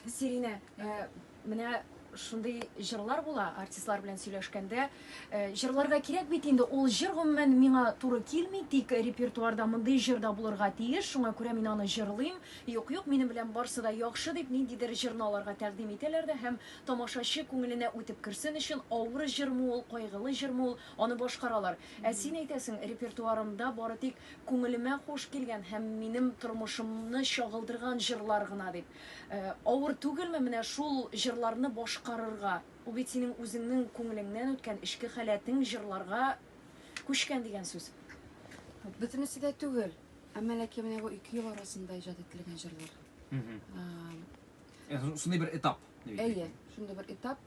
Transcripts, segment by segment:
Сиринә, э, менә шундый җырлар була, артистлар белән сөйләшкәндә, э, җырларга кирәк бит инде, ул җыр гомумән миңа туры килми, тик репертуарда мондый җыр да булырга тиеш, шуңа күрә мин аны җырлыйм. Юк, юк, минем белән барсы да яхшы дип, ниндидер җырны аларга тәкъдим итәләр дә һәм тамашачы күңеленә үтеп керсен өчен, авыр җырмы ул, кайгылы җырмы ул, Аны башкаралар. Ә син әйтәсең, репертуарымда бары тик күңелемә хуш килгән һәм минем тормышымны чагылдырган җырлар гына дип. Авыр түгелме менә шул җырларны башкарырга? Ул бит синең үзеңнең күңелеңнән үткән, эчке халәтең җырларга күчкән дигән сүз. Бөтенесе дә түгел, әмма ләкин менә бу ике ел арасында иҗат ителгән җырлар. Шундый бер этап. Әйе, шундый бер этап.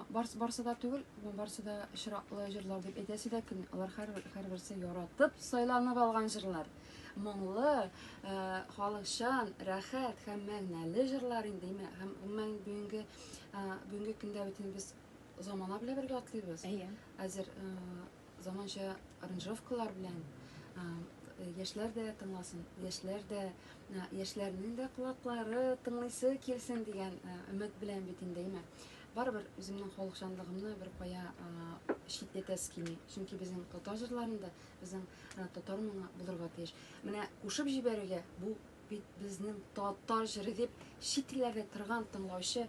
Барс, барсы да түгел, барсы да чиратлы җырлар дип әйтәсе дә кем? Алар һәрберсе яратып сайланып алган җырлар. Моңлы, э, халыкчан, рәхәт һәм мәгънәле җырлар инде име? Һәм гомумән бүгенге э, бүгенге көндә бит без замана белән бергә атлыйбыз. Әйе. Әзер э, Заманча аранжировкалар белән яшьләр дә тыңласын, яшьләр дә яшьләрнең дә колаклары тыңлыйсы килсен дигән өмет белән бит инде, әйме. Барыбер үземнең халыкчанлыгымны бер кая читләтәсе килми. Чөнки безнең татар җырларында безнең татар моңы булырга тиеш. Менә кушып җибәрергә бу бит безнең татар җыры дип шикләнә торган тыңлаучы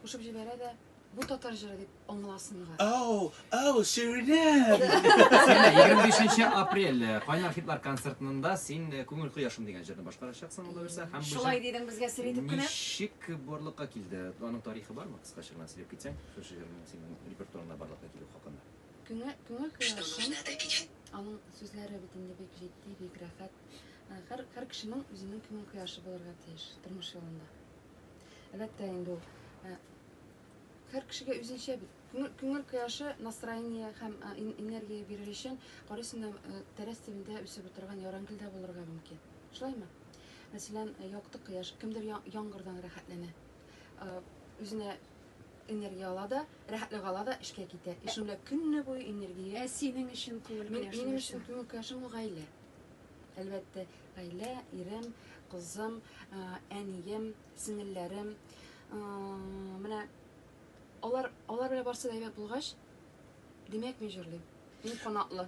кушып җибәрә дә Бу татар җыры дип аңласынга. Ау, ау, сүренәм! 25 апрель э, Кайнар хитлар концертында син э, Күңел кояшым дигән җырны башкарачаксың алла бирсә һәм Шулай дидең безгә сер итеп кенә. Ничек барлыкка килде? Аның тарихы бармы? Кыскача гына сөйләп китсәң, шушы җырның синең репертуарыңда барлыкка килү хакында. Күңел күңел кояшым. Аның сүзләре бит инде бик җитди, бик рәхәт. Э, һәр һәр кешенең үзенең күңел кояшы булырга тиеш тормыш юлында. Әлбәттә инде ул Һәр кешегә үзенчә бит. Күңел, күңел кояшы, настроение һәм энергия бирер өчен, карыйсың да, тәрәз төбендә үсеп утырган ярангел дә булырга мөмкин. Шулаймы? Мәсәлән, якты кояш, кемдер яңгырдан рәхәтләнә. Үзенә энергия ала да, рәхәтлек ала да эшкә китә. И шунда көнне буе энергия. Ә синең өчен күңел кояшы? Минем өчен күңел кояшы бу гаилә. Әлбәттә, гаилә, ирем, кызым, әнием, сеңелләрем, менә алар, алар белән барсы да әйбәт булгач, димәк, мин җырлыйм. Мин канатлы.